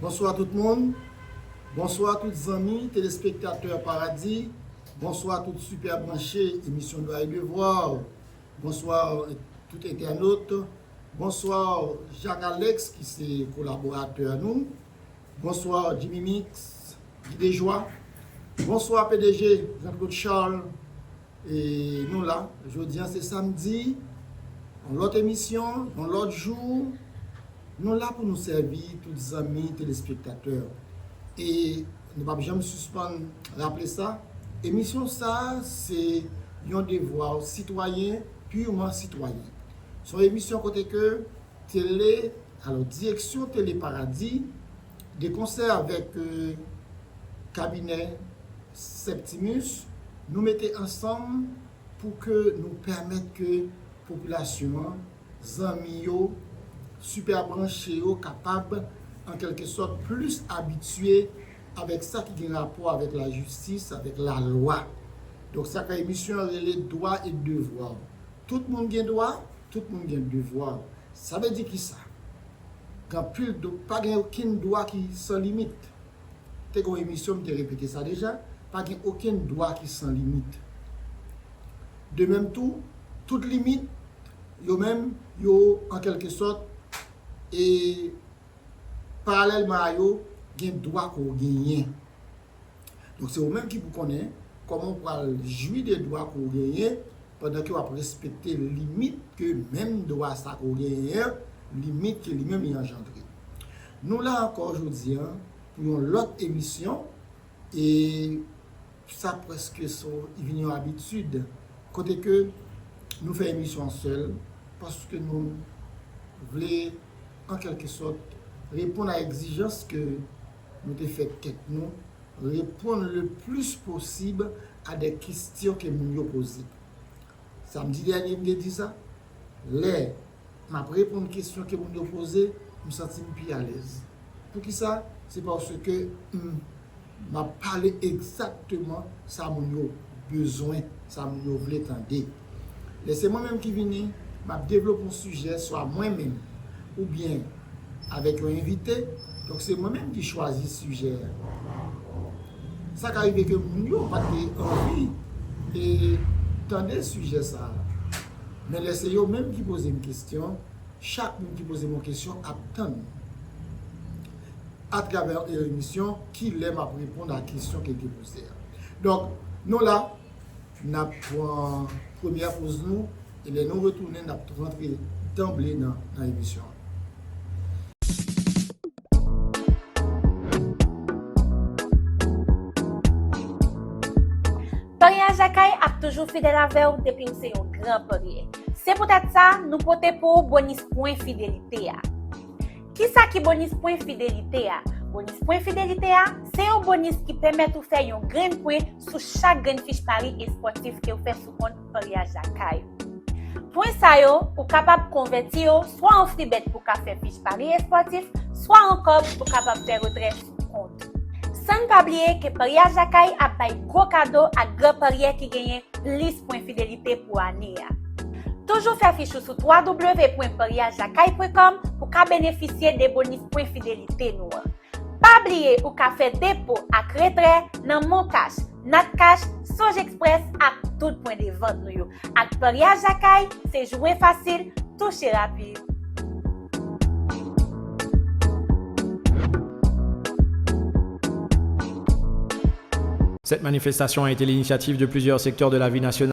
Bonswa tout moun, bonswa tout zanmi telespektatè Paradis, bonswa tout sipè branche emisyon Dwa e Devwa, bonswa tout entènot, bonswa Jacques Alex ki se kolaboratè nou, bonswa Jimmy Mix, Guy Dejoie, bonswa pdg Jean Claude Charles. E nou la, jodi an se samdi, yon lòt emisyon, yon lòt jou, nou la pou nou sèvi tout zanmi telespektatè. E nou pap janm sispann raple sa, emisyon sa se yon devwa sitwayen, purman sitwayen. Son emisyon kote ke tele, alò direksyon tele Paradis, De konsè avèk kabinè Septimus, nou mete ansanm pou ke nou pèmèt ke popilasyon an, zanmi yo, sipè branche yo kapab an kèlke sòt plis abitye avèk sa ki gen rapò avèk lajistis, avèk lalwa. Donk sa k fè emisyon an rele dwa et devwa. Tout moun gen dwa, tout moun gen devwa. Sa vle di kisa? Gen anpil do, pa gen okenn dwa ki san limit. Te gen yon emisyon m te repete sa deja, pa gen okenn dwa ki san limit. De menm tou, tout limit yo menm yo an kèlke sòt e paralèlman a yo gen dwa ke w genyen. Donk se ou menm ki pou konnen kòman ou pral jwi de dwa ke w genyen pandan ke w ap respekte limit ke menm dwa sa ke w genyen an, limit ke li menm li anjandre. Nou la ankò jodi an pou yon lòt emisyon e sa prèske so vin yon abitid kote ke nou fè emisyon an sèl paske nou vle an kèlke sòt reponn a egzijans ke nou te fè tèt nou reponn le plis posib a dè kestyon ke moun yo poze. Samdi dènye m te di sa, lè m ap reponn kestyon ke moun yo poze, m santi m pi alèz. Poukisa? Se paske m ap pale egzakteman sa moun yo bezwen, sa moun yo vle tande. Lè se mwen menm ki vini, m ap devlope yon sijè swa mwen menm oubyen avèk yon envite, donk se mwen menm ki chwazi sijè a. Sa ka rive ke moun yo pa te anvi tande sijè sa a, men lè se yo menm ki poze m kesyon, chak moun ki poze m yon kesyon ap tann atravè yon emisyon ki lè m ap reponn a kesyon ke l te poze a. Donk, nou la. N ap pran premyè poz nou e lè nou retounen n ap rantre danble nan emisyon an. Paryaj Lakay ap toujou fidèl avè w depi w se yon gran parye. Se poutèt sa, nou pote pou ou bonis pwen fidelite a. Kisa ki bonis pwen fidelite a? Bonis pwen fidelite a, se yon bonis ki pèmèt ou fè yon grenn pwen sou chak grenn fich pari espòtif kew fè sou kont paryaj lakay ou. Pwen sa yo, ou kapab konvèti yo swa an fribèt pou ka fè fich pari espòtif, swa an kòb pou kapab fè retrè sou. kont. San n pa bliye ke paryaj lakay ap bay gwo kado ak gran paryè ki genyen plis pwen fidelite pou ane a. Toujou fè fich ou sou www.paryajlakay.com pou ka benefisye de bonis pwen fidelite nou an. Pa bliye ou ka fè depo ak retrè nan MonCash, Natcash, Songe Express ak tout pwen de vant nou yo. Ak Paryaj Lakay, se jwe fasil, touche rapid. Cette manifestation a été l'initiative de plusieurs secteurs de la vie nationale.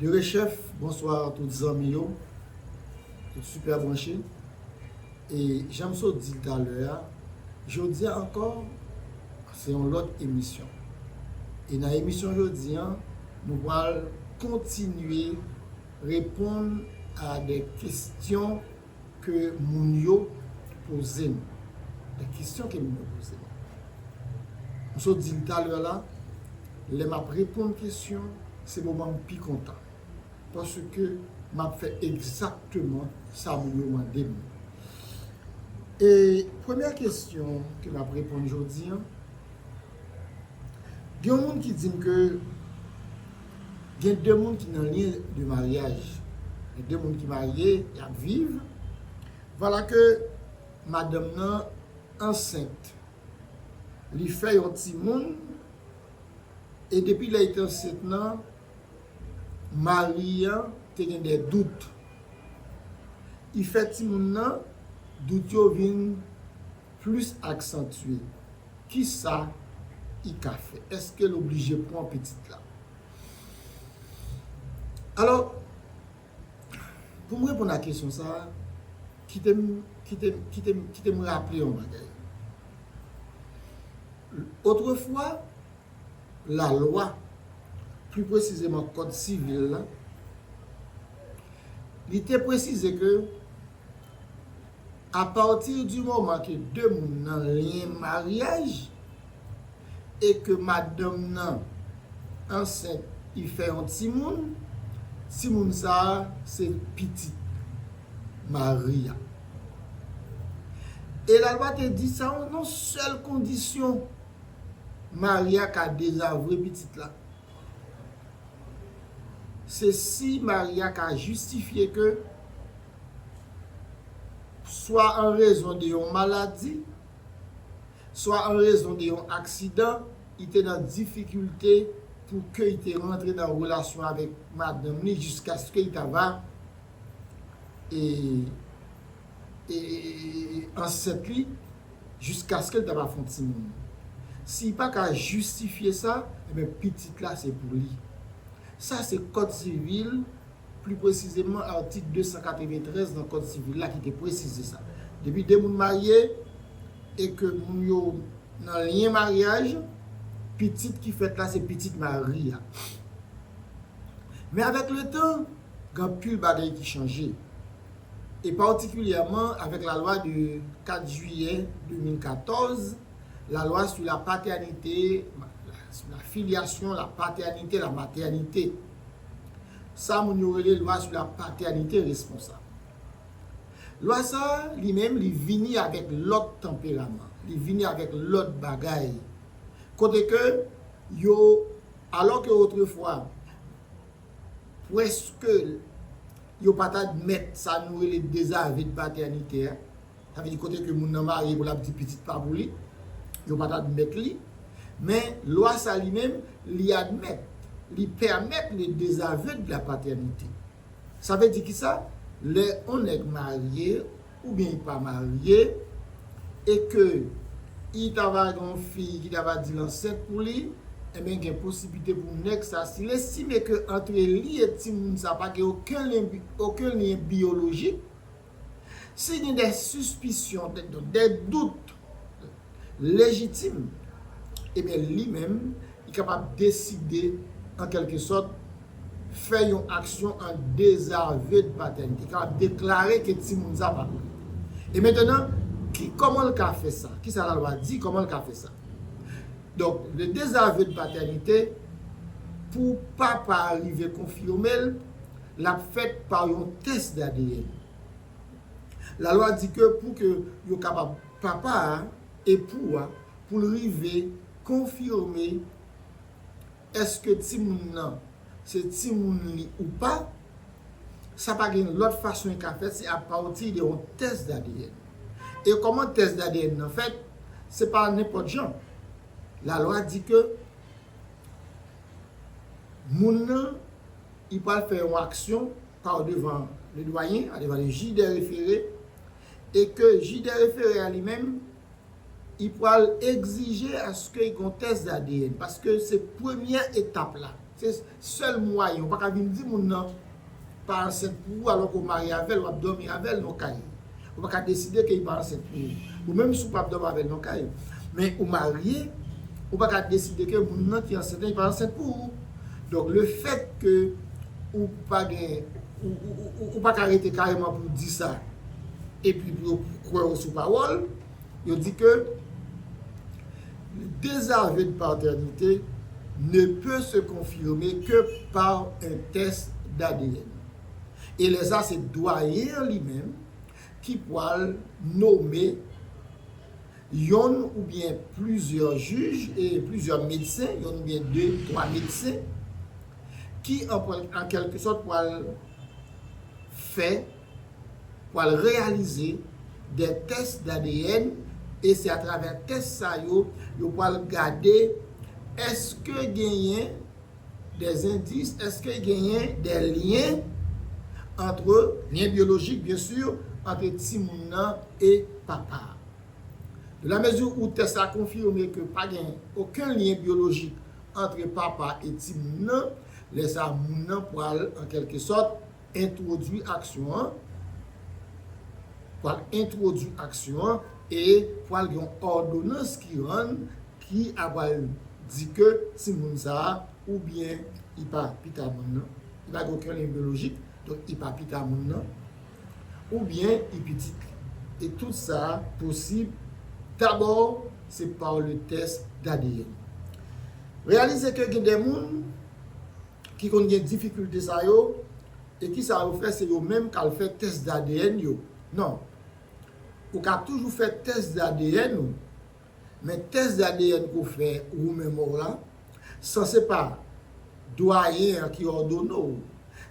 Derechef bonsoir tout zanmi yo tout super branche e janm sot dil talè a jodia ankò se yon lòt emisyon e nan emisyon jodi an nou pral kontinye reponn a de kestyon Ke moun yo poze m. Gen kesyon ke moun yo poze m. M sot di l talè la, lè m ap reponn kesyon, se moman m pi kontan. Paske m ap fè egzakteman sa moun yo mande m. E premyè kesyon ke m ap reponn jodi an, gen yon moun ki di m ke. Gen 2 moun ki nan lyen de maryaj. Gen 2 moun ki marye, y ap viv. Vwala ke madanm nan ansent. Li fè yon timoun e depi lè li te ansent nan, mari an te gen de dout. Li fè timoun nan, dout yo vin plis aksantye. Kisa I ka fè? Eske l oblije pwan pitit la? Alò, pou m reponn a kesyon sa a, kite m, kite m, kite m, kite m raple yon bagay. Otrefwa, lalwa, pli presizeman kòd sivil la, li te presize ke, a pati di moman ke 2 moun nan lyen maryaj e ke madanm nan ansent li fè yon timoun, timoun sa a se pitit mari a. E lalwa te di sa yon sèl kondisyon, mari a ka dezavwe pitit la. Se si mari a ka jistifye ke, swa an rezon de yon maladi, swa an rezon de yon aksidan, li te nan difikilte pou ke li te rantre nan relasyon avèk madanm li jiskaske li ta va ansent li, jiskaske l ta va fè yon timoun. Si li pa ka jistifye sa, enben pitit la se pou li. Sa se kòd sivil, pli presizeman atik 293 nan kòd sivil la ki te presize sa. Depi 2 moun marye e ke moun yo nan lyen maryaj, pitit ki fèt la se pitit mari a. Men avèk letan, gen anpil bagay ki chanje, e patikilyèman avèk lalwa de 4 jiyè 2014, lalwa sou la patènite, sou la filyasyon, la patènite, la matènite. Sa moun yo rele lwa sou la patènite responsab. Lwa sa a, li menm, li vini avèk lòt tanperaman, li vini avèk lòt bagay, kote ke yo, alò ke otrefwa, Pwèske yo pa t admèt sa nou rele dezave de patènite a, sa vle di kote ke moun nan marye pou l ap di pitit pa pou li, yo pa t admèt li. Men, lwa sa li menm, li admèt, li pèmèt le dezave de la patènite. Sa vle di kisa? Lè yon nèg marye. oubyen li pa marye e ke I ta va gen yon fi ki ta va di l ansent pou li, enben gen posiblite pou nèg sa si l estime ke antre li e timoun sa pa gen oken lyen oken lyen biyolojik, si gen dè sispisyon, dè dout, lejitim, ebyen li menm li kapab deside an kèlke sòt fè yon aksyon an dezave de patènite, li kapab deklare ke timoun sa pa pou li. E mentenan, ki, kòman l ka fè sa? Kisa lalwa di, kòman l ka fè sa? Donk, le dezave de patènite, pou papa a rive konfime l, l ap fèt pa yon tès d'ADN. La lwa di ke pou ke yo kapab papa a, epou a, pou l rive konfime èske timoun nan se timoun li ou pa, sa pa gen lòt fason e ka fèt se a pati de yon tès d'ADN. E kòman tès d'ADN nan fèt? Se pa nenpòt jan. La lwa di ke moun nan li pral fè yon aksyon. pa w devan le Doyen a, devan le jij dè refere, e ke jij dè refere a li menm, i pwal egzije aske y gon tès d'ADN, paske se premyè etap la, se sèl mwayen, ou pa ka vin di moun nan pa ansent pou ou alò ke w marye avè l, w ap dòmi avè l nan w kay. Ou paka deside ke li pa ansent pou ou. Ou menm si ou pap dòmi avèl nan kay, men ou marye, ou paka deside ke moun nan ki ansent lan li pa ansent pou ou. Donk le fèt ke ou pa gen, ou paka rete kareman pou ou di sa, epi pou yo kwè ou sou pawòl, yo di ke le dezave de patènite ne peut se confirmer que par un test d'ADN. e lè sa se dwayen an li menm ki pwal nome yonn ou byen plizyè jij e plizyè medsen, yonn ou byen 2, 3 medsen ki an kèlke sòt pwal fè, pwal reyalize dè tès d'ADN e se atravè tès sa yo, yo pwal gade eske genyen. 2 endis, Eske genyen de lyen antre, lyen byolojik byen sur, antre timoun nan e papa a? Dans la mesure où tès la konfime ke pa gen oken lyen byolojik antre papa e timoun nan, lè sa moun nan pral an kèlke sòt, entwodui aksyon an, pral entwodui aksyon an e pral gen yon òdonans ki rann ki apral di ke timoun sa a oubyen li pa pita moun nan, li pa gen okenn lyen byolojik, donk li pa pita moun nan, oubyen li pitit li. E tout sa a posib dabò se pa le tès d'ADN. Reyalize ke gen de moun. ki konn gen difikilte sa yo e kisa yo fè se yo menm kal fè tès d'ADN yo non ou ka toujou fè tès d'ADN ou men tès d'ADN ke w fè ou menm ou la san se pa dwayen an ki òdone w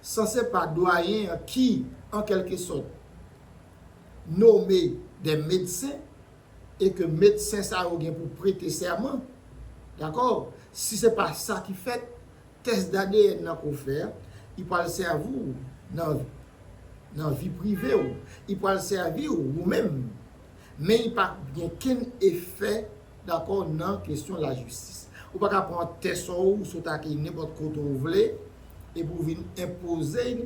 san se pa dwayen an ki an kèlke sòt nome dè medsen e ke medsen sa yo gen pou prete sèman dakò si se pa sa ki fèt Tès d'ADN nan ke w fè a, li pral sèvi w nan nan vi prive w, li pral sèvi w ou menm, men li pap gen kenn efè dakò nan kesyon lajistis. Ou pa ka pran tès ou, ou sot ak li nenpòt kote ou vle epi w vin enpoze l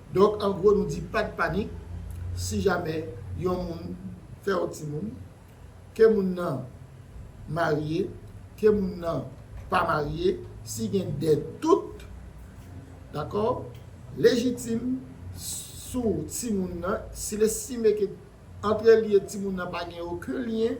Donk an gwo nou di pat panik si jamè yon moun fèw timoun, ke moun nan marye, ke moun nan pa marye, si gen de dout dakò lejitim sou timoun nan, sil estime ke antre li e timoun nan pa gen oken lyen.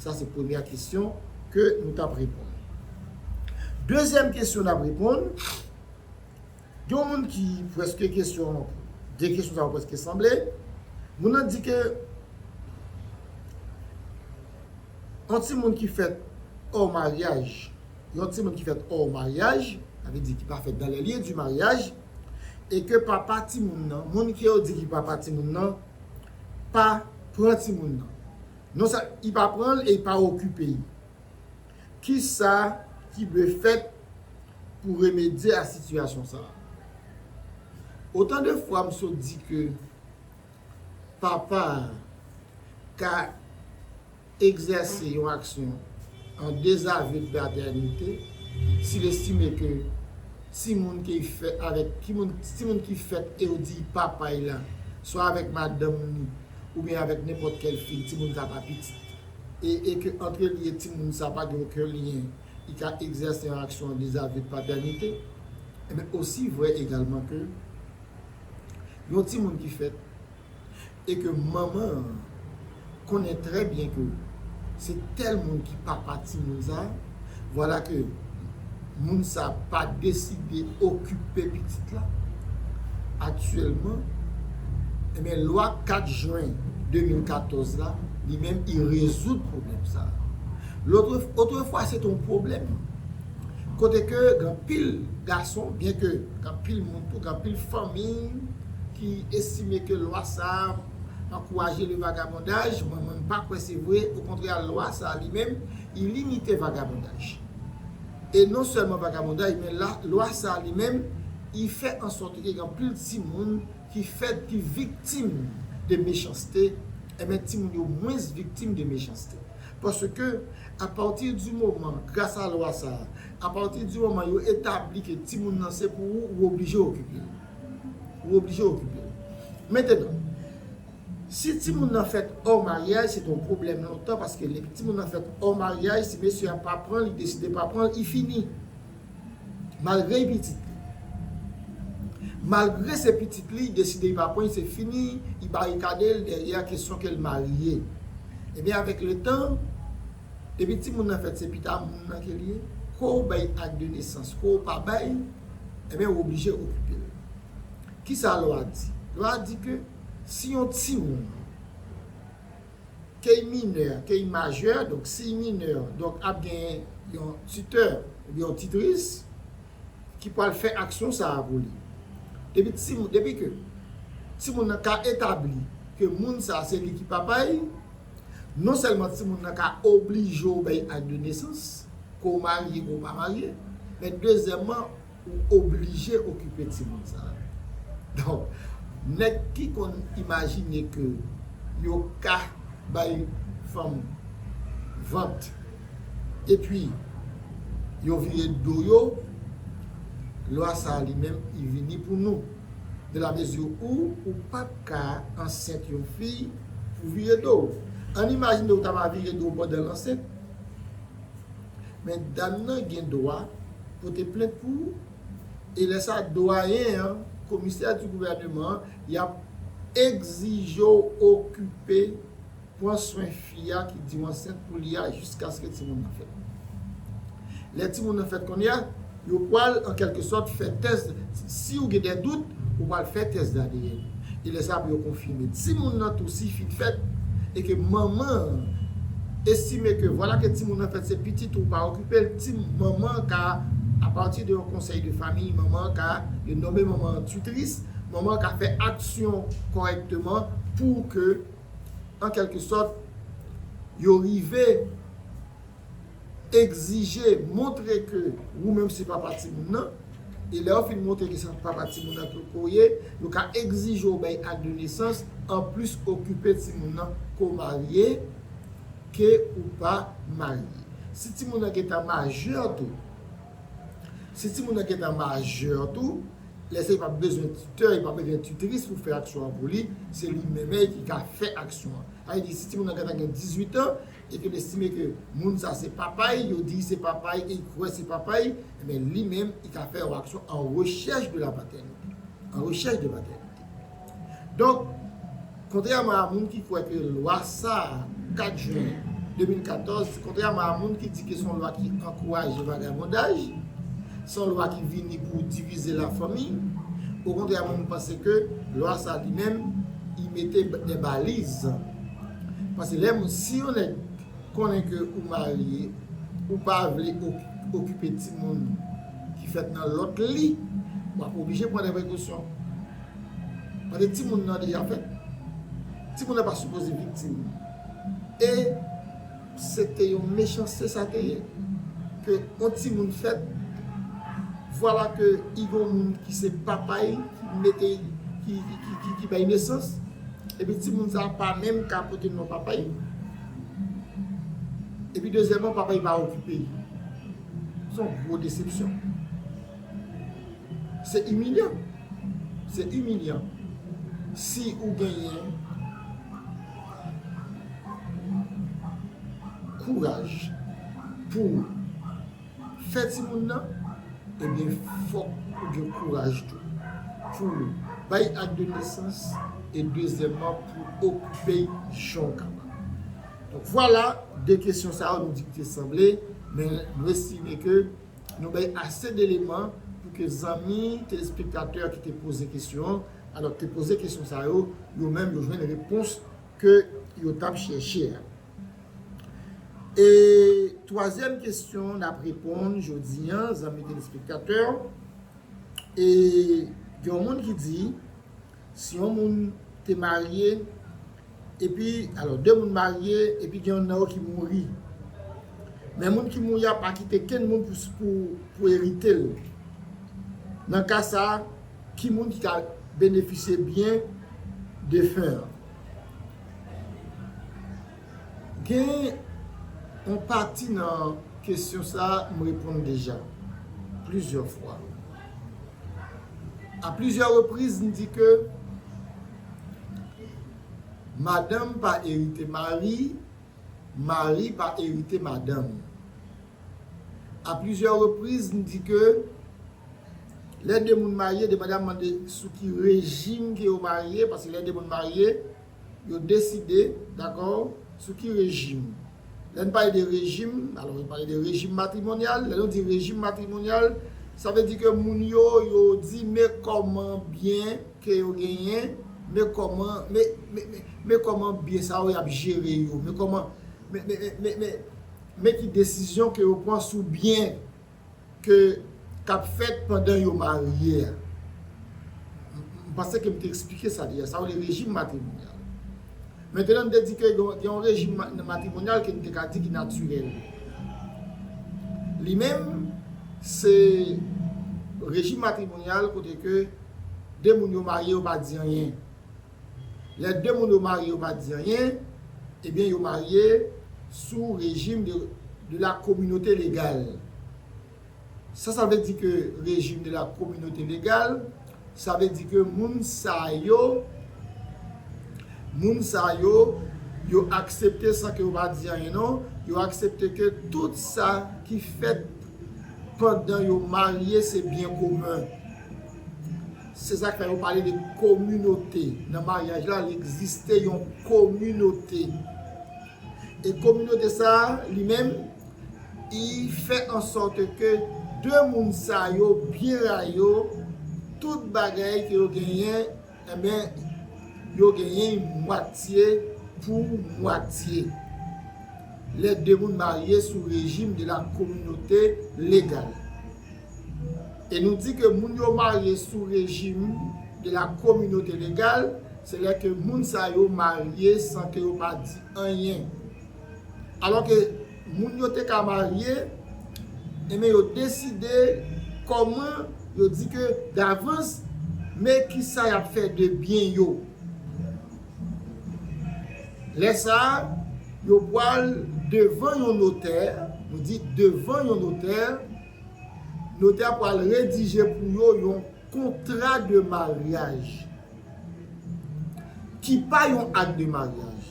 Sa se premyè kesyon ke nou tap reponn. Dezyèm kesyon nap reponn, gen yon moun ki preske kesyon, de kesyon sa yo preske sanble. Moun nan di ke yon timoun ki fèt or maryaj, yon timoun ki fèt or maryaj, sa vle di ki pa fèt dans les lieux du mariage, e ke papa timoun nan, moun ke yo di ki papa timoun nan, pa pran timoun nan. Non sa i pa pranl e i pa okipe i. Kisa ki dwe fèt pou remedye a sitiyasyon sa? Otan de fwa m sot di ke papa a ka egzèse yon aksyon an dezaveu de patènite si l estime ke timoun ke i fèt avèk timoun ki fèt e yo di papa i la swa avèk madanm ni oubyen avèk nenpòt kèl fi timoun sa pa pitit e e ke antre li e timoun sa pa gen oken lyen li ka egzèse yon aksyon an dezavye de patènite enben osi vrè egalman ke yon timoun ki fèt e ke manman an konnen trè byen ke se tèl moun ki papa timoun sa. Vwala ke moun sa a pa deside okipe pitit la aktyèlman, enben lwa 4 jwen 2014 la, li menm li rezoud pwoblèm sa a. Lotre, otrefwa se te yon pwoblèm kote ke gen anpil gason, byen ke gen anpil moun tou, gen anpil fanmi ki estime ke lwa sa a ankouraje le vagabondaj, mwen menm m pa kwè se vre, okontrè lwa sa a li menm, Li limite vagabondaj. E non sèlman vagabondaj men la lwa sa a li menm li fè ansòt ke gen anpil timoun ki fèt ki viktim de mechanste enben timoun yo mwens viktim de mechanste. Paske apati di moman gras a lwa sa a apati di moman yo etabli ke timoun nan se pou ou ou oblije okipe l. Ou oblije okipe l. Mentenan Si timoun nan fèt or maryaj se ton pwoblèm lontan paske depi timoun nan fèt or maryaj si mesye a pa pran li deside pa pran li fini malgre li pitit li malgre se pitit li deside li pa pran li se fini li barikade l dèryè kesyon ke l marye ebyen avèk letan depi timoun nan fèt se pita moun nan ke l ye ke w bay ak de nesans ke w pa bay ebyen w oblije okipe l kisa lwa di lwa di ke. Si yon timoun ke y minè, ke y majè, donk si y minè, donk ap gen yon titè oubyen yon titris ki pral fè aksyon sa a pou li. Depi ti, depi ke timoun nan ka etabli ke moun sa a se li ki papa y, non sèlman timoun nan ka oblije obèy act de nesans, ke w marye ke w pa marye, men dezyèmman, Ou oblije okipe timoun sa yo. Donk, nèg ki konn imajine ke yo ka bay fanm vant epi yo vire do yo, lwa sa a li menm li vini pou nou. De la mezi ou, ou pa p ka ansent yon fi pou w vire do w. Ann imajine ou ta va vire do w pandan l ansent. Men dam nan gen dwa pote plent pou ou e lè sa dwayen an, komisè di gouvèneman an, y ap egzije w okipe, pran swen fi a ki di w ansent pou li a jiskaske timoun nan fèt. Lè timoun nan fèt kounye a, Yo pral, an kèlke sòt, fè tès, si ou gen dè dout, ou pral fè tès d'ADN. E lè sa pou yo konfime. Timoun nan tou si fin fèt, e ke manman an estime ke vwala ke timoun nan fèt se pitit ou, pa okipe l, ti, manman an ka, a pati de yon konsèy de famiy, manman an ka, yo nome manman an tutris, manman an ka fè aksyon kòrèkteman pou ke, an kèlke sòt, yo rive. egzije montre ke wou menm se papa timoun nan, e lè yo fin montre ke se papa timoun nan ke w ye, yo ka egzije w bay ak de nesans, anplis okipe timoun nan ke w marye, ke ou pa marye. Si timoun nan gentan majè tou, si timoun nan gentan majè tou, lè sa li pa p bezwen titè, li pa p bezwen titris pou fè aksyon an pou li, se li menm ki ka fè aksyon an. Sa vle di si timoun nan gentan gen 18 an, e ke l estime ke moun sa se papa y, yo di se papa y e y kwè se papa y, enben li menm li ka fè yon aksyon an rechèch de la patènite, an rechèch de patènite. Donk, kontrèman a moun ki kwè ke lwa sa a, 4 jen 2014, kontrèman a moun ki di ke se yon lwa ki ankouraje vagabondaj, se yon lwa ki vini pou divize la fanmi, okontrè mwen m panse ke lwa sa li menm li mete de baliz. Paske lè moun si yon nèg konnen ke ou marye ou pa vle okipe timoun ki fèt nan lòt li wap oblije pran de prekosyon paske timoun nan deja fèt timoun nan pa sipoze viktim e Se te yon mechanste sa te ye, ke on timoun fèt, vwala ke i gon moun ki se papay li ki mete ki ki bay nesans, epi timoun sa a pa menm ka pote non papay li, epi dezyèman papay li pa okipe li. Son gwo desepsyon. Se imilyan. Se imilyan. Si ou genyen kouraj pou ou fè timoun nan, ebyen fòk ou gen kouraj tou pou ou bay ak de nesans e dezyèmman pou ou okipe l jan ou kapab. Donk vwala, de kesyon sa yo nou di ki te sanble, men nou estime ke Nou bay ase deleman pou ke zanmi telespektatè ki te poze kesyon, alò te poze kesyon sa yo, yo menm yo jwenn repons ke yo tap chèche a. E twazyèm kesyon nap reponn jodi an zanmi telespektatè, e gen yon moun ki di, si yon moun te marye, Epi, alò, de moun marye, epi gen youn nan yo ki mouri. Men moun ki mouri a pa kite kenn moun pou erite l. Nan ka sa a, ki moun ki ka benefisye byen defen an? Gen yon pati nan kesyon sa a m reponn deja plizyè fwa. A plizyè repriz, m di ke. Madanm pa erite mari, mari pa erite madanm. A plizyè repriz n di ke lè de moun marye depandamman de sou ki rejim ke yo marye, paske lè de moun marye yo deside, dakò, sou ki rejim. Lè n pale de rejim, alò yo pale de rejim matrimonyal, lè nou di rejim matrimonyal, sa vle di ke moun yo, yo di men kòman byen. ke yo genyen me kòman me me me me kòman biyè sa yo yap jere yo me kòman me me me me me ki desizyon ke yo pran sou biyè ke kap fèt pandan yo marye a m panse ke m te esplike sa deja sa yo rele rejim matrimonyal mentenan m te di ke gen yon rejim matrimonyal ke m te ka di ki natirèl li menm se rejim matrimonyal kote ke 2 moun yo marye yo pa di anyen lè 2 moun yo marye yo pa di anyen ebyen yo marye sou rejim de la kominote legal sa sa vle di ke rejim de la kominote legal sa vle di ke moun sa yo moun sa yo yo aksepte san ke yo pa di anyen non yo aksepte ke tout sa ki fèt pandan yo marye se byen komen. Se sa k fè yo pale de kominote. Nan maryaj la, li egziste yon kominote. E kominote sa a, li menm, li fè an sòt ke de moun sa yo byen rayi yo, tout bagay ke yo genyen, Enben, yo genyen mwatye pou mwatye. Lè de moun marye sou rejim de la kominote legal. E nou di ke moun yo marye sou rejim de la kominote legal, se lè ke moun sa yo marye san ke yo pa di anyen. Alò ke. Moun yo te ka marye, enben yo deside kòman yo di ke davans me kisa yap fè de byen yo. Lè sa a, yo pwal devan yon notè, nou di devan yon notè, notè a pwal redije pou yo yon. Kontra de maryaj ki pa yon ak de maryaj.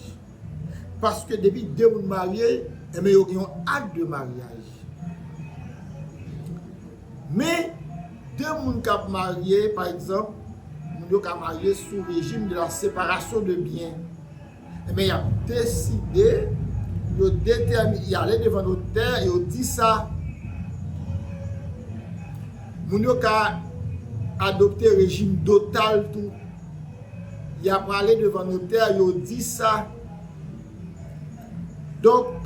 Paske depi 2 moun marye, enben yo gen yon ak de maryaj. Men, 2 moun k ap marye, pa egzanp, moun yo ka marye sou rejim de la separasyon de byen. Enben, y ap deside, yo detèmine, y ale devan notè, yo di sa. Moun yo ka adopte rejim dotal tou. Y ap ale devan notè, yo di sa. Donk,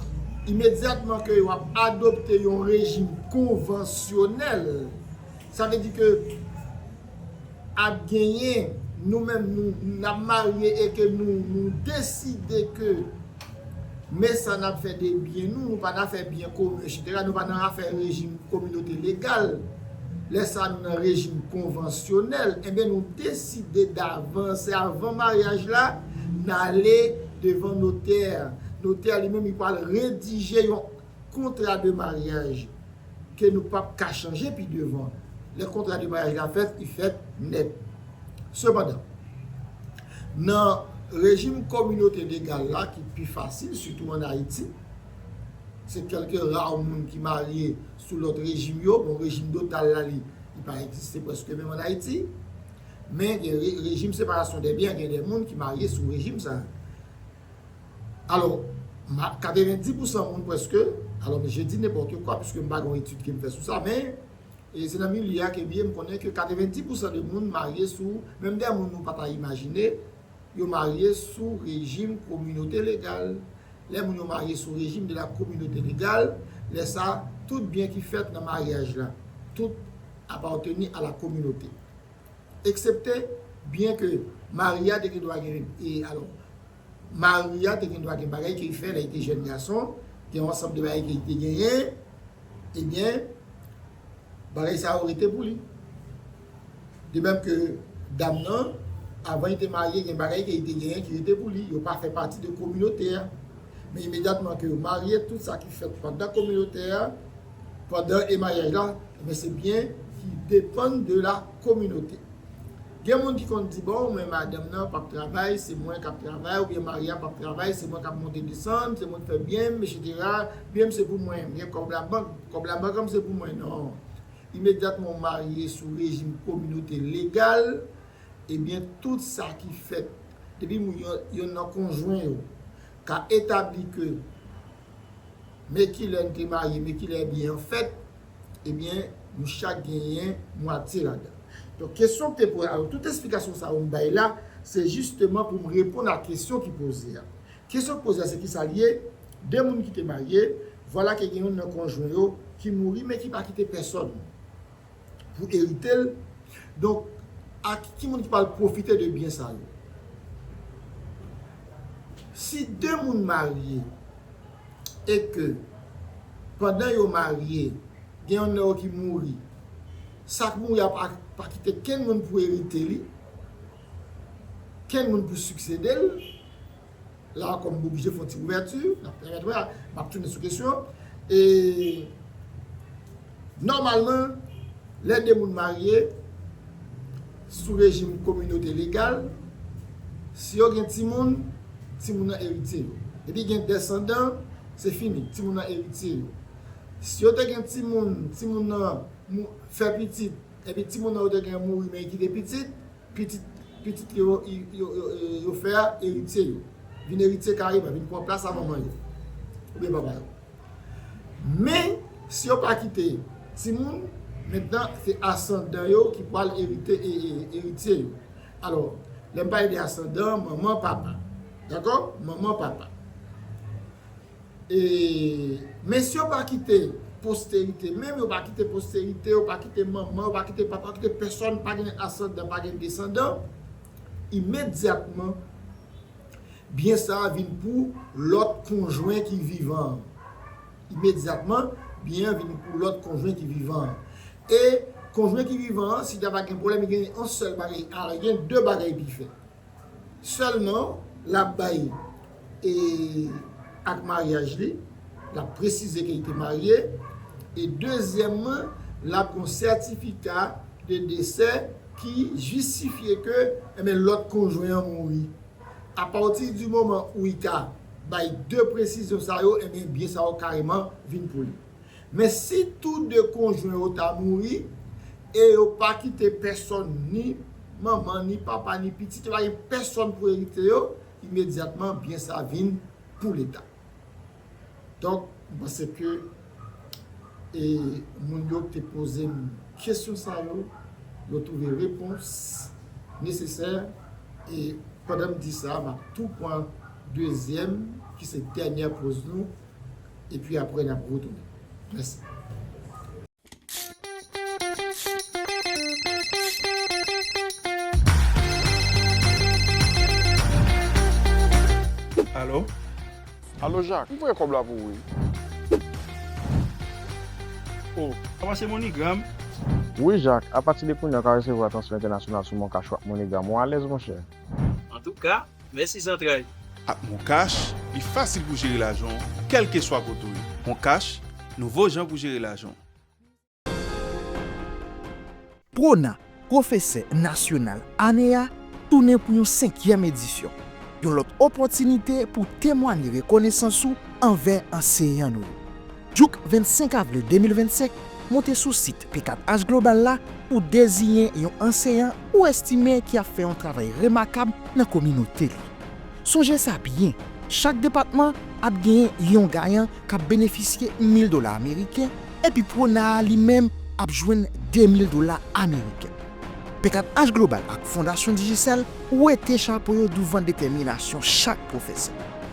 imedyatman ke yo ap adopte yon rejim konvansyonèl, sa vle di ke, ap genyen nou menm nou nap marye e ke nou nou deside ke men sa nap fè de byen nou, nou pa nan afè byen komen etsetera, nou pa nan afè rejim kominote legal, lè sa nou nan rejim konvansyonèl, enben nou deside davans e avan maryaj la nale devan notè, notè li menm li pwal redije yon. kontra de maryaj ke nou pap ka chanje pi devan. Lè kontra de maryaj la fèt, li fèt nèt. Sepandan, nan rejim kominote legal la ki pi fasil, sitou an Ayiti, se kèlke ra moun ki marye sou lòt rejim yo, bon rejim dotal la li pa egziste prèske menm an Ayiti, men gen rejim separasyon dè byen, gen de moun ki marye sou rejim sa a. Alò, ma, 90 pousan moun prèske, alò m je di nenpòtekwa piske m pa gen yon etid ke m fè sou sa, men, e se nan milye a ke m ye, m konnen ke 90 pousan de moun marye sou, menm dè moun nou pa ta imajine, yo marye sou rejim kominote legal. Lè moun yo marye sou rejim de la kominote legal, lè sa, tout byen ki fèt nan maryaj la, tout appartenu a la kominote. Eksepte, byen ke mari a te gen dwa gen, e alò, mari a te gen dwa gen bagay ke li fè lè li te jèn gason, gen yon ansanm de bagay ke li te genyen, ebyen, bagay sa yo rete pou li. De menm ke dam nan, avan li te marye, gen bagay ke li te genyen ki rete pou li, yo pa fè pati de kominote a. Men imedyatman ke yo marye, tout sa ki fèt pandan kominote a, Pandan emanyaj la, enben se byen ki depann de la kominote. Gen moun ki konn di bon men madanm nan pap travay se mwen kap travay oubyen mari a pap travay se mwen kap monte desann se mwen k fè byen m etc byen m se pou mwen m gen kòb labank kòb labank an m se pou mwen non imedyatman w marye sou rejim kominote legal ebyen tout sa ki fèt depi moun yonn nan konjwen yo ka etabli ke Me kilè n te marye, me kilè byen an fèt, ebyen nou chak genyen mwatye ladan. Donk kesyon ki te poze, alò tout esplikasyon sa yo m bay la, se jisteman pou m reponn a kesyon ki poze a. Kesyon ki poze a se kisa l ye, 2 moun ki te marye, vwala ke gen youn nan konjwen yo ki mouri men ki pa kite pèsòn. pou erite l, donk a ki moun ki pral pwofite de byen sa yo? Si de moun marye e ke pandan yo marye gen yonn nan yo ki mouri, sa k mouri a pa kite kenn moun pou erite li, kenn moun pou siksede l, la kòm m oblije fè yon ti ouvèti, n ap pèmèt wè, m ap tounen sou kesyon an, e nòmalman lè 2 moun marye sou rejim kominote legal, si yo gen timoun, timoun nan eritye yo. Depi gen desandan, se fini, timoun nan eritye yo. Si yo te gen timoun, timoun nan fè pitit, Epi timoun nan yo te gen mouri men kite pitit, pitit pitit li yo yo fè a eritye yo. Vin eritye kareman, vin pran plas a manman yo oubyen papa yo. Men, si yo pa kite timoun, mentnan se asandan yo ki pral erite eritye yo. Alò, lè m pale de asandan, manman, papa. Dakò? Manman, papa. E mesye yo pa kite posterite menm, yo pa kite posterite, yo pa kite manman, yo pa kite papa, yo pa kite pèsòn, pa gen asandan, pa gen desandan, imedyatman byen sa a vin pou lòt konjwen ki vivan an. Imedyatman byen an vin pou lòt konjwen ki vivan an. E konjwen ki vivan an, si ta va gen pwoblèm, li gen yon sèl bagay, al gen de bagay ki fèt. Sèlman lap bay e ak maryaj li, lap presize ke li te marye e dezyèmman lap gen yon sètifika de desè ki jistifye ke enben lòt konjwen an mouri. A pati di moman ou i ka bay 2 presizyon sa yo enben byen sa yo kareman vin pou li. Men si tou de konjwen yo ta mouri, e yo pa kite pèsòn, ni manman, ni papa, ni pitit, yo pa gen pèsòn pou erite yo, imedyatman byen sa vin pou Leta. Donk, m panse ke moun yo ki te poze m kesyon sa yo, yo twouve repons nesesè, e pandan m di sa, m ap tou pran dezyèm, ki se dènyè poz nou, epi aprè nap retounen. Mèsi. Alo? Alo Jak, m voye kòb la pou ou wi. O, sa pase Moneygram? Wi Jak, apatide kounya w ka resevwa transfè entènasyonal sou Moncash ou ak Moneygram. Ou alèz monchè? Antouka, Mèsi zantray! Ak MonCash, li fasil pou jere lajan w kèlkeswa kote w ye. MonCash, nouvo jan pou jere lajan w! Prona, Pwofesè Nasyonal Ane a tounen pou yon senkyèm edisyon, yon lòt opòtinite pou w temwanye rekonesans ou anvè anseyan nou yo. Jouk 25 avril 2025, moute sou sit P4H Global la pou deziyen yon anseyan ou estime ki ap fè yon travay remakab nan kominote li. Sonje sa byen, chak depatman ap genyen yon gayan k ap benefisye 1000 dola ameriken epi Pwona a li menm ap jwenn 2000 dola ameriken. P4H Global ak Fondasyon Digicel wete chapo yo douvan detèminasyon chak pwofesè.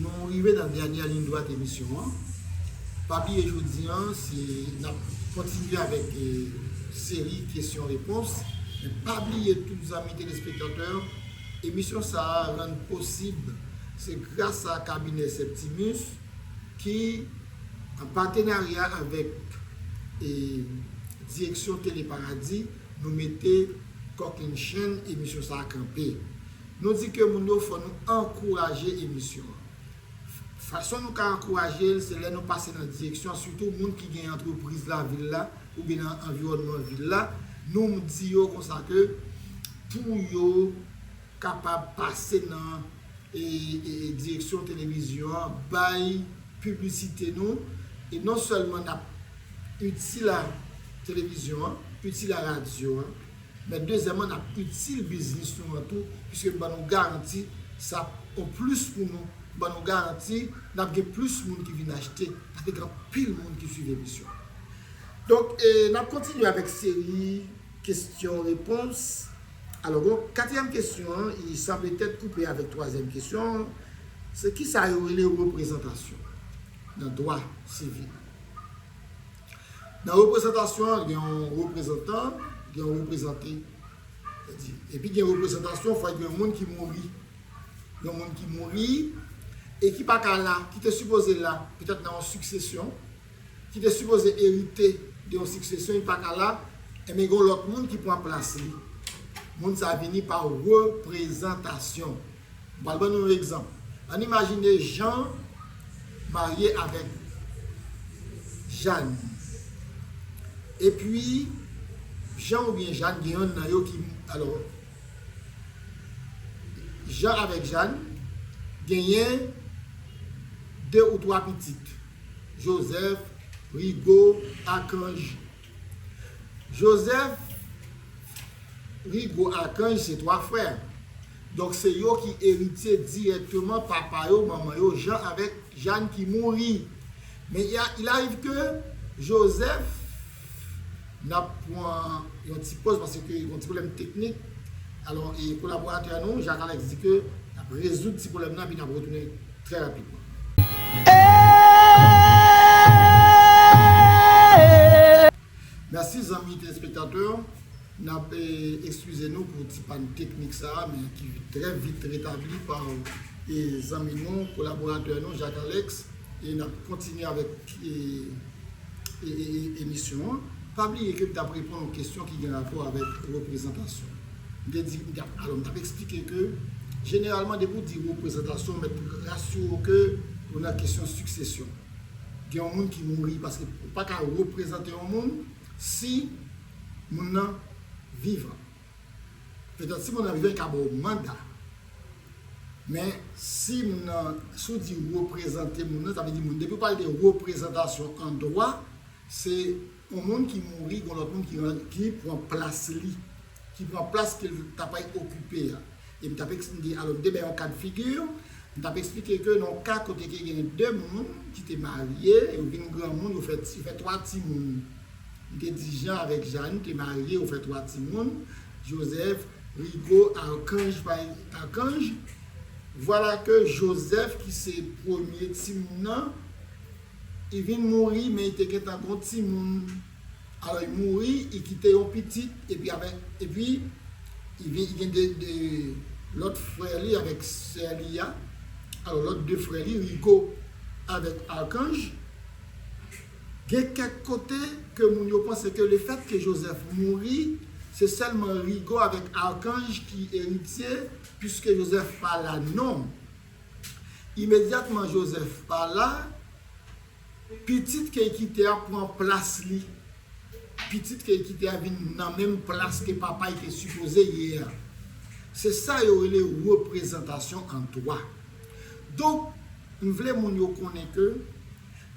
Nou rive nan dènyè liy dwat emisyon an. Pa bliye jodi an se nap kontinye avèk seri kesyon repons. Men pa bliye tout zanmi telespektatè, emisyon sa a rann posib se gras a kabinè Septimus ki an patenarya avèk direksyon Tele Paradis nou mete kòkennchenn emisyon sa a kanpe. Nou di ke moun yo fò nou ankouraje emisyon an. Fason nou ka ankouraje l se lè nou pase nan direksyon sitou moun ki gen antrepriz la vil la oubyen nan anviwònman vil la nou di yo konsa ke pou yo kapab pase nan direksyon televizyon an bay piblisite nou e non sèlman n ap itil a televizyon an, itil a radyo an. Men dezyèman nap itil biznis nou an tou piske n ban nou garanti sa ap on plis pou nou, n ban nou garanti nap gen plis moun ki vin achte paske gen anpil moun ki swiv emisyon an. Donk nap kontinye avèk seri kesyon repons. Alò bon, katriyèm kesyon an e sa petèt koupe avèk twazyèm kesyon an, se kisa yo rele reprezantasyon nan dwa sivil. Nan reprezantasyon an, gen yon reprezantan, gen yon reprezante. Sètadi, epi gen reprezantasyon, fòk gen yon moun ki mouri. Yon moun ki mouri e ki pa ka la, ki te sipoze la, petèt nan yon siksesyon, ki te sipoze erite de yon siksesyon, li pa ka la, enben gen yon lòt moun ki pran plas li. Moun sa a vini pa reprezantasyon. M pral ban nou yon egzanp. Ann imajine Jan marye avèk Jàn. Epi, Jan oubyen Jàn gen yonn nan yo ki, alò, Jan avèk Jàn genyen de ou twa pitit, Jozèf, Rigo, Akanj. Jozèf, Rigo, Akanj se twa frè. Donk se yo ki eritye dirèkteman papa yo, manman yo, Jan avèk Jàn ki mouri. Men il ariv ke Jozèf, n ap pran yon ti poz paske gen yon ti pwoblèm teknik, alò e kolaboratè nou Jak Alèks di ke n ap rezoud ti pwoblèm nan epi n ap retounen trè rapidman. Merci zanmi telespektatè nap ekskize nou pou ti pàn teknik sa men ki trè vit retabli pa zanmi nou kolaboratè nou Jacques Alex e nap kontinye avèk emisyon an pa bliye ke m tap reponn yon kesyon ki gen rapò avèk reprezantasyon m te di alò m tap eksplike ke jeneralman depi w di reprezantasyon mèt rasire w ke ou nan kesyon siksesyon. gen yon moun ki mouri paske ou pa ka reprezante yon moun si moun nan vivan. Petèt si moun nan vivan li ka ba w manda. Men si moun nan, si w di reprezante moun nan, sa vle di moun depi w pale de reprezantasyon an dwa, se. Yon moun ki mouri, gon lòt moun ki ran, ki pran plas li. Ki pran plas ke l ta pay okipe a. E m t ap eks, m te, alò m te bay yon ka de figi, m t ap eksplike ke nan yon ka kote ke gen de moun ki te marye, yo vin granmoun, yo fè ti, yo fè twa timoun. M te di Jan avèk Jann te marye, yo fè twa timoun, Jozèf, Rigo, Arkanj, pa e, Arkanj. Vwala ke Jozèf ki se premye timoun nan, I vin mouri men i te gentan gen yon timoun alò i mouri i kite yon pitit epi avèk epi i vin gen 2 lòt frè li avèk sè li a alò lòt 2 frè li Rigo avèk Arkanj gen kèk kote ke moun yo panse ke le fèt ke Jozèf mouri se sèlman Rigo avèk Arkanj ki eritye piske Jozèf pa la non. Imedyatman Jozèf pa la, pitit ke kite a pran plas li. Pitit ke kite a vin nan menm plas ke papa y te sipoze ye a. Se sa yo rele reprezantasyon an dwa. Donk, m vle moun yo konnen ke.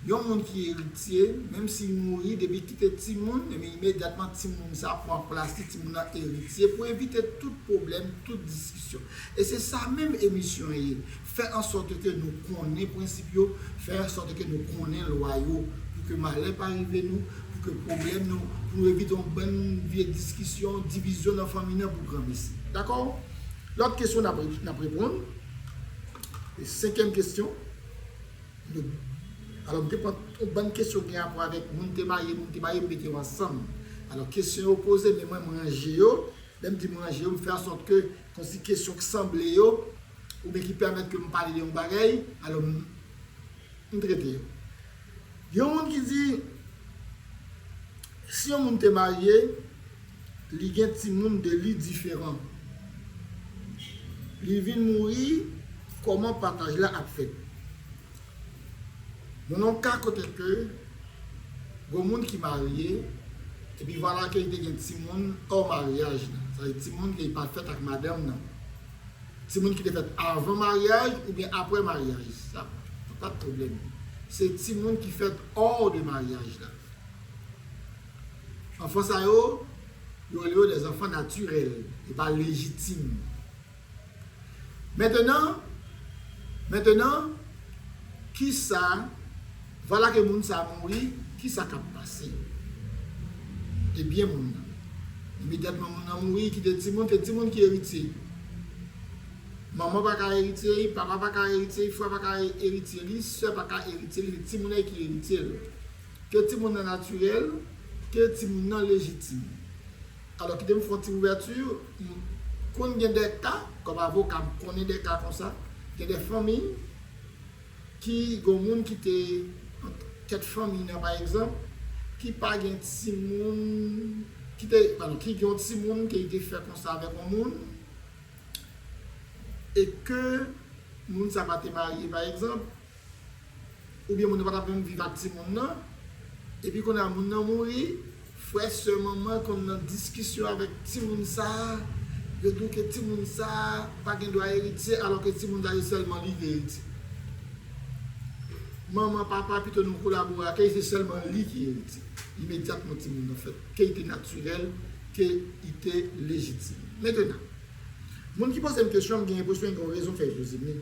Yon moun ki eritye, menm si li mouri, depi li kite timoun, ebyen imedyatman timoun sa pran plas li, timoun nan eritye pou evite tout pwoblèm, tout diskisyon. E se sa menm emisyon an ye, fè an sòt ke nou konnen prensip yo, fè an sòt ke nou konnen lwa yo, pou ke malè pa rive nou, pou ke pwoblèm nou, pou nou evite yon bann vye diskisyon, divizyon nan fanmi nan pou granmesi. Dakò? Lòt kesyon n ap reponn, senkyèm kesyon. Doub. Alò m te pran yon bann kesyon ki gen rapò avèk moun te marye, moun ki marye m mete yo ansanm. Alò kesyon yo poze men mwen m ranje yo, lè m di m ranje yo m fè ansòt ke kòmsi kesyon k sanble yo oubyen ki pèmèt ke m pale de yon bagay, alò m m trete yo. Gen yon moun ki di si yon moun te marye, Li gen timoun de li diferan. Li vin mouri koman pataj la ap fèt. Nan yon ka kote ke gon moun ki marye epi vwala ke li te gen timoun or maryaj la. Sa vle di timoun ke li pa fèt ak madanm nan. Timoun ki te fèt avan maryaj oubyen apre maryaj sa pa t pwoblèm. Se timoun ki fèt or de maryaj la. Anfan sa yo, yo rele yo des enfants naturels, e pa légitimes. Mentenan, mentenan, ki sa, vwala ke moun sa mouri, ki sa k ap pase? E byen moun nan? Imediatman moun nan mouri, kite timoun, se timoun ki eritye li. Manman pa ka eritye li, papa pa ka eritye li, frè pa ka eritye li, sè pa ka eritye li, se timoun nan ki eritye l. Ke timoun nan natirèl, ke timoun nan lejitim. Alò kite m fè yon ti ouvèti, m konn gen de ka, kòm avoka m konnen de ka konsa, gen de fanmi ki gen yon moun ki te nan tèt fanmi nan pa egzanp, ki pa gen timoun, ki te, padon, ki gen yon timoun ke li te fè konsa avèk yon moun, e ke moun sa pa te marye pa egzanp. Oubyen moun nan pa tap menm viv ak timoun nan, epi kounye a moun nan mouri, frè, sè, manman konn nan diskisyon avèk timoun sa, yo di w ke timoun sa pa gen dwa eritye alò ke timoun sa se sèlman li ki eritye. Manman, papa pito nou kolabore ake, se sèlman li ki eritye. Imedyatman timoun nan fèt, ke li te natirèl, ke li te lejitim. Mentenan. Moun ki pozem kesyon mgen enpresyon gen yon rezon fè Jezi vni.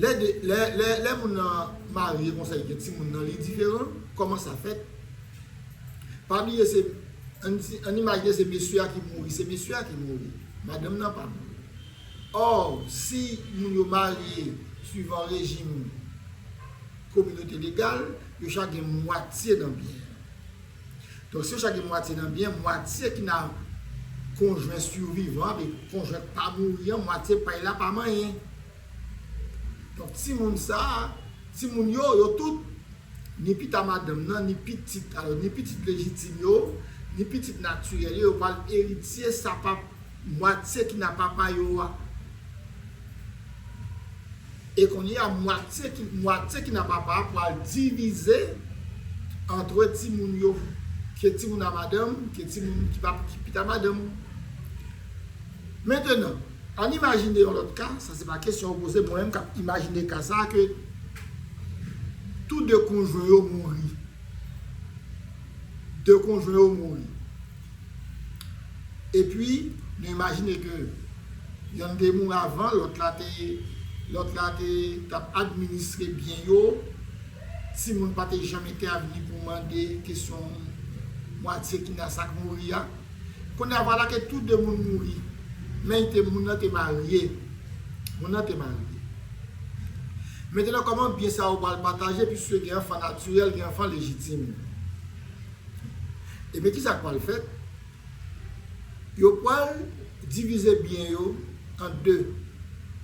Lè de lè moun nan marye konsa li gen timoun nan li diferan kòman sa fèt? Pa bliye se ann imajne se mesye a ki mouri se mesye a ki mouri madanm nan pa mouri. Or si moun yo marye swivan rejim kominote legal yo chak gen mwatye nan byen an. Donk si yo chak gen mwatye nan byen, mwatye ki nan konjwen sivivan an, konjwen ki pa mouri an, mwatye pay la pa manyen. Donk timoun sa, timoun yo, yo tout, ni pita madanm nan, ni pitit, alò ni pitit lejitim yo, ni pitit natirèl yo, yo pral eritye sa mwatye ki nan papa yo a. E kounye a mwatye ki mwatye ki nan papa a pral divize antre timoun yo ke timoun a madanm ke timoun ki pa ki pita madanm. Mentenan, ann imajine yon lòt ka, sa se pa kesyon ou poze, mwen menm k ap imajine ka sa a ke tou de konjwen yo mouri. De konjwen yo mouri. Epi nou imajine ke yonn te mouri avan, lòt la te, lòt la te, t ap administre byen yo, timoun pa te janm entèvni pou mande kesyon mwatye ki nan sa k mouri a. Kounye a vwala ke tou de moun mouri, men y te, moun nan te marye, moun nan te marye. Mettenan, kòman byen sa yo pral pataje, piske gen anfan natirèl, gen anfan lejitim. Ebyen kisa k pral fèt? Yo pral divize byen yo an 2.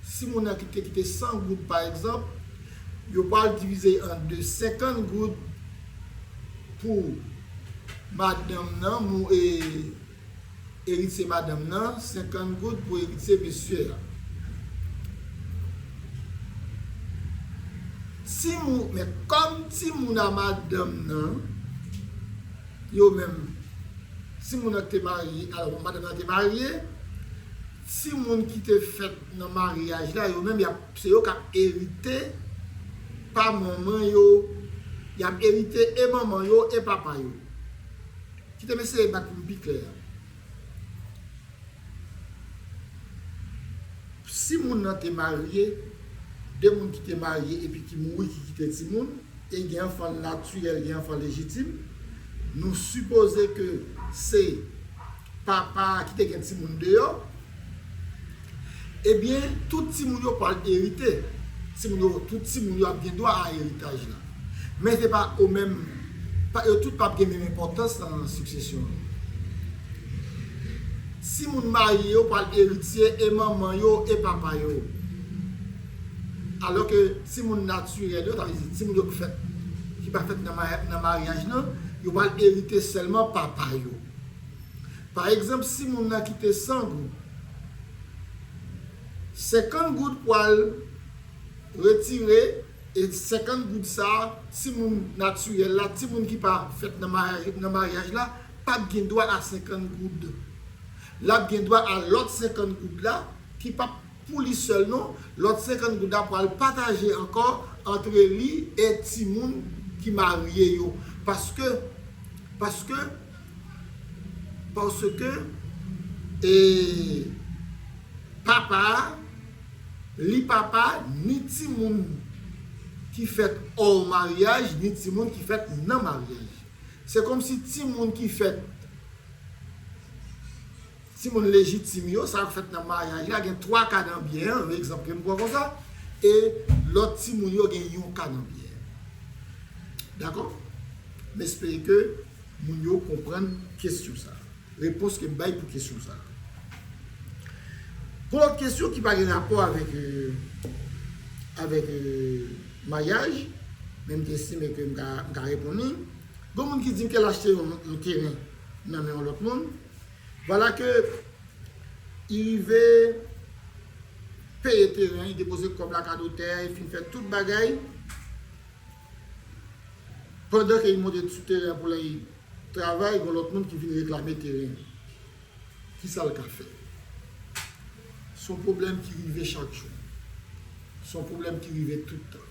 Si moun nan te kite 100 goud pa egzanp, yo pral divize l an 2, 50 goud pou madanm nan. Eritye madanm nan, 50 goud pou eritye mesye a. Ti mou, men kòm ti moun a madanm nan, yo menm, ti moun an ki te marye, alò madanm nan te marye, ti moun ki te fèt nan maryaj la, yo menm y ap, se yo k ap erite pa manman yo, y ap erite e manman yo e papa yo. Kite m eseye bat pou m pi klè. Si moun nan te marye, de moun ki te marye epi ki mouri ki kite timoun, e gen anfan natirèl, gen anfan lejitim, nou sipoze ke se papa a ki te gen timoun deyò, Ebyen, tout timoun yo pral erite. Timoun yo, tout timoun yo ap gen dwa a eritaj la. Men se pa o menm, pa yo tout pap gen menm enpòtans nan siksesyon an. Timoun marye yo pral eritye e manman yo e papa yo. Alò ke timoun natirèl yo, sa vle di timoun yo ki fèt, ki pa fèt nan maryaj nan, yo pral erite sèlman papa yo. Pa egzanp si moun nan kite 100 goud, 50 goud pwal retire e 50 goud sa si moun natirèl la, ti moun ki pa fèt nan maryaj la pap gen dwa a 50 goud. Lap gen dwa a lòt 50 goud la ki pap pou li sèl non, lòt 50 goud la pwal pataje ankò antre li e ti moun ki marye yo paske paske Paske e papa a li papa ni timoun ki fèt hors maryaj ni timoun ki fèt nan maryaj. Se komsi timoun ki fèt timoun lejitim yo, sa yo ki fèt nan maryaj la gen 3 ka nan biyè an, yon egzanp ke m pran konsa, e lòt timoun yo gen yon ka nan biyè an. Dakò? M espere ke. Moun yo konprann kesyon sa a. Repons ke m bay pou kesyon sa a. Pou lòt kesyon ki pa gen rapò avèk, avèk maryaj, men m te estime ke m ka, m ka reponn li. Gon moun ki di m ke l achte yon, yon teren nan men yon lòt moun. Vwala ke li rive peye teren, li depoze kòb lakadotè, li fin fè tout bagay. Pandan ke li monte sou teren an pou lay travay, gon lòt moun ki vin reklame teren li. Kisa l ka fè? Son pwoblèm ki rive chak jou. Son pwoblèm ki rive tout tan.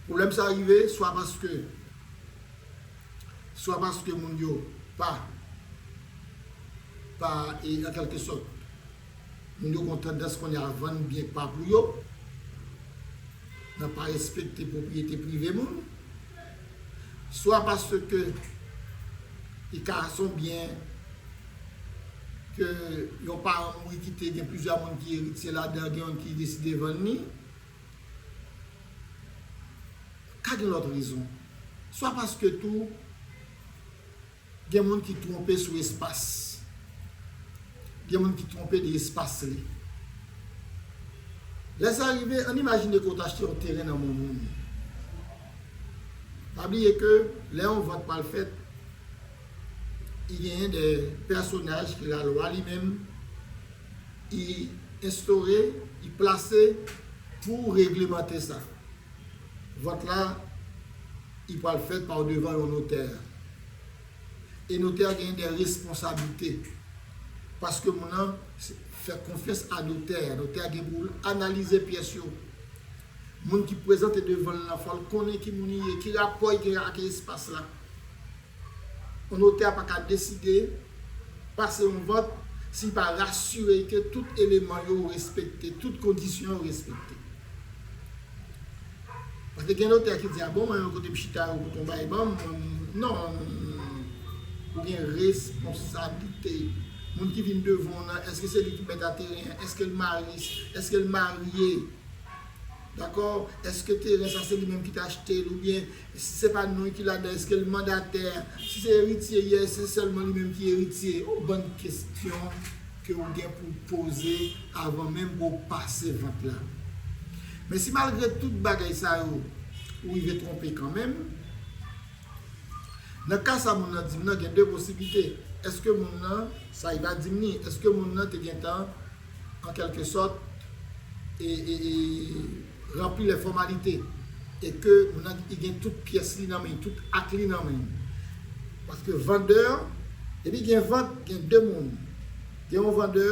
Pwoblèm sa rive swa paske, swa paske moun yo pa, pa e an kèlke sòt. Moun yo gon tandans kounye a vann byen pa pou yo, nan pa respekte pwopriyete prive moun, swa paske li ka se yon byen ke yon paran mouri kite gen plizyè moun ki eritye ladan l, gen yon ki deside vann li, ka gen lòt rezon, swa paske tou. Gen moun ki twonpe sou espas. Gen moun ki twonpe de espas li. Lè sa rive, ann imajine ke w t achte yon teren nan men moun. Pa bliye ke lè yon vant pral fèt, i genyen de pèsonaj ke lalwa li menm i enstore, i plase pou reglemante sa. Vòt la i pwal fèt pa odevan yon notè. E notè a genyen dè responsablite. Paske moun lan fè konfyans a notè a. Notè a gen pou analize pyès yo. Moun ki prezante devan l lan fòl konnen ki moun li ye, ki rapò li genyen ak espas la. Yon notè a pa ka deside pase yon vant si li pa rasire l ke tout eleman yo respekte, tout kondisyon yo respekte. Paske gen notè ki di a bon mwen kote m chita yo pou konba e ban m, non, ou gen responsablite. Moun ki vin devan w nan, èske se li ki mèt a teren an, èske l marye, èske l marye? Dakò, eske teren sa se li menm ki ta achte l oubyen si se pa non l ki ladan l eske l mandatè, si se eritye li eske se sèlman li menm ki eritye, yon bann kesyon ke ou gen pou w poze avan menm ke w pase vant la. Men si malgre tout bagay sa yo ou rive twonpe kanmenm, nan ka sa moun nan di m nan gen 2 posiblite, eske moun nan, sa li va di m ni, eske moun nan te gentan. an kèlke sòt, ranpli lè fòmalite, e ke moun nan li gen tout pyès li nan men, tout ak li nan men. Paske vandè, depi gen vant, gen 2 moun. Gen yon vandè,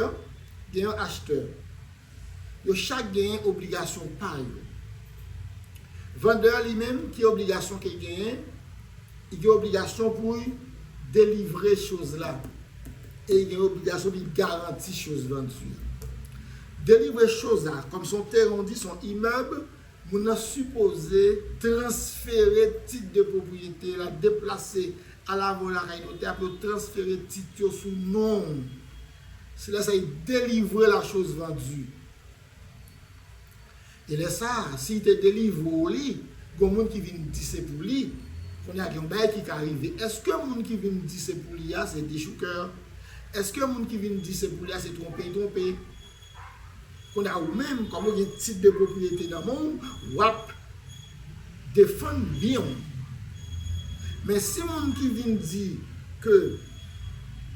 gen yon achtè. Yo chak genyen obligasyon pa yo. Vandè li menm, ki obligasyon ke l genyen? Li gen obligasyon pou l delivre choz la e li gen obligasyon li garanti choz lan di. Delivre choz la, kòm se yon teren ou di se yon imèb, moun nan sipoze transfere tit de pwopriyete la, deplase al avè w lakay notè a pou yo transfere tit yo sou non w. Se lè sa li delivre la choz vandue. E lè sa a, si l te delivre w li, gon moun ki vin di se pou li, kounye a gen yon bagay ki ka rive. Èske moun ki vin di se pou li a se dechoukè? Èske moun ki vin di se pou li a se twonpe l twonpe? Kounye a ou menm, kòm ou gen tit de pwopriyete nan men w, w ap. Defann byen w. Men si moun ki vin di ke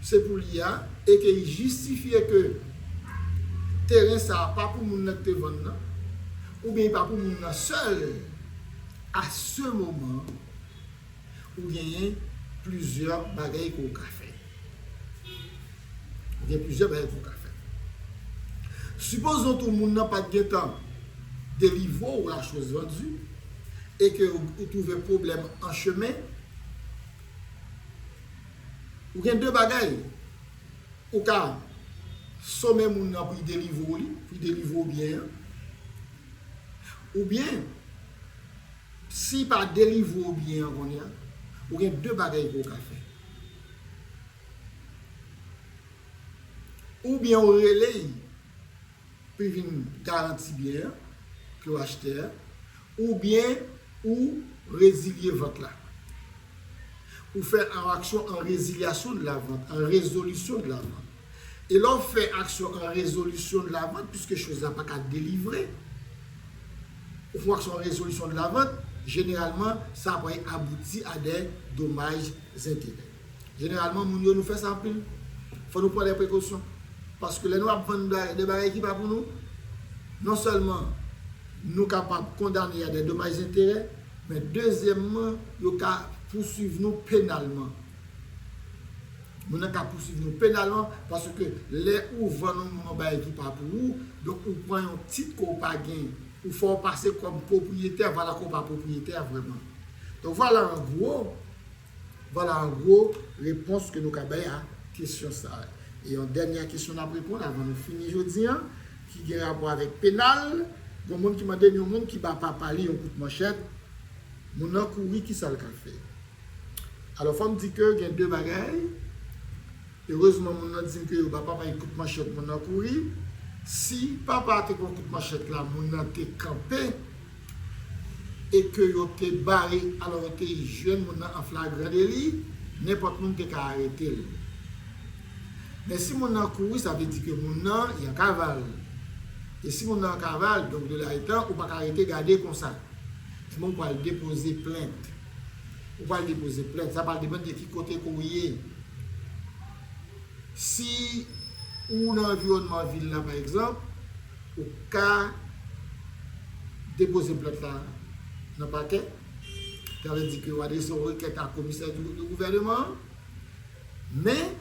se pou li a e ke li jistifye ke teren sa a pa pou moun nan ki te vann nan, oubyen li pa pou moun nan sèl, a se moman an ou genyen plizyè bagay ke w ka fè. Gen plizyè bagay ke w ka fè. Sipozon tou moun nan pat gen tan delivre w la choz vandue e ke ou twouve pwoblèm an chemen, ou gen de bagay, ou ka some moun nan pou li delivre w li, pou li delivre w byen an, ou byen si pa delivre w byen an kounye a, ou gen de bagay ke w ka fè. Ou byen ou rele y pou y vin garanti byen an ke w achte a, ou byen ou rezilye vant la. Ou fè yon aksyon an rezilyasyon de la vant, an rezolisyon de la vant. E lè w fè aksyon an rezolisyon de la vant, piske choz la pa ka delivre, ou fè yon aksyon an rezolisyon de la vant, jeneralman sa pral abouti a dè domaj zenterè. Jeneralman moun yo nou fè sa anpil, fò nou pran lè prekosyon, paske lè nou ap vann de bagay ki pa pou nou, non sèlman nou kapab kondane a dè domaj enterè, men dezyèmman yo ka pousuiv nou penalman. Moun nan ka pousuiv nou penalman, paske lè ou vann yon moun yon bagay ki pa pou ou, donk ou pran yon tit ke w pa gen, ou fè w pase kòm pwopriyetè, valakè w pa pwopriyetè a vrèman. Donk vwala an gwo. Vwala an gwo repons ke nou ka bay a kesyon sa a. E yon dènya kesyon n ap reponn avan nou fini jodi an ki gen rapò avèk penal, gon moun ki mande m yon moun ki ba papa li yon kout manchèt, moun nan kouri ki sa l ka fè? Alò fò m di ke gen de bagay. Erezman moun nan dim ke yo ba papa li kout manchèt moun nan kouri, si papa te pran kout manchèt la moun nan te kanpe e ke yo te bare alò yo te jwenn moun nan an flagran deli, nenpòt moun te ka aretel. Men si moun nan kouri sa vle di ke moun nan yan kaval e si moun nan an kaval donk de la etan ou paka rete gade konsa. Ebyen ou pral depoze plent. Ou pral depoze plent. Sa pral depann de ki kote ke w ye. Si ou nan anviwònman vil la pa egzanp, ou ka depoze plent la nan pakè. Sa vle di ke ou adrese yon rekèt a komisè de gouvèneman an. Men,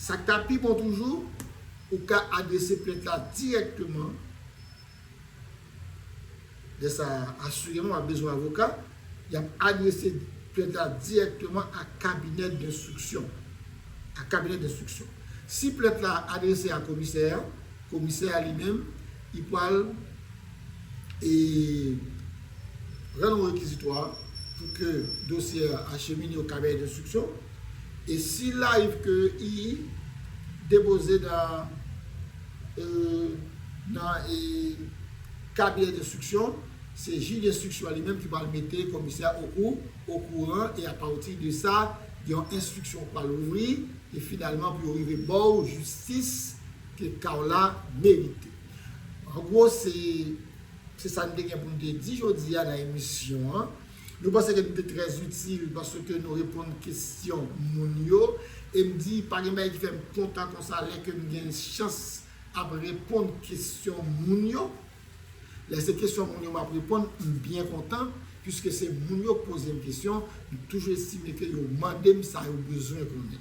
sa k ta pi bon toujou, ou ka adrese plent la dirèkteman. Lè sa a, asireman w ap bezwen avoka. Y ap adrese plent la dirèkteman a kabinè denstriksyon. A kabinè denstriksyon. Si plent la adrese a komisè a, komisè a li menm, li pral e rann yon rekizitwa pou ke dosye a achemine o kabinè denstriksyon. E si l ariv ke I depoze nan. nan kabinè denstriksyon, se jij denstriksyon an li menm ki pral mete komisè okou okouran e apati de sa yon enstriksyon pral ouvri e finalman pou yo rive ba w jistis ke ka w la merite. An gwo se sa n te gen pou n te di jodi a nan emisyon an. Nou panse ke nou te trè itil paske nou reponn kesyon moun yo e m di pa gen bagay ki fè m kontan konsa lè ke m gen chans ap reponn kesyon moun yo. Lè se kesyon moun yo m ap reponn, m byen kontan puiske se moun yo k poze m kesyon, m toujou estime ke yo mande m sa yo bezwen konnen.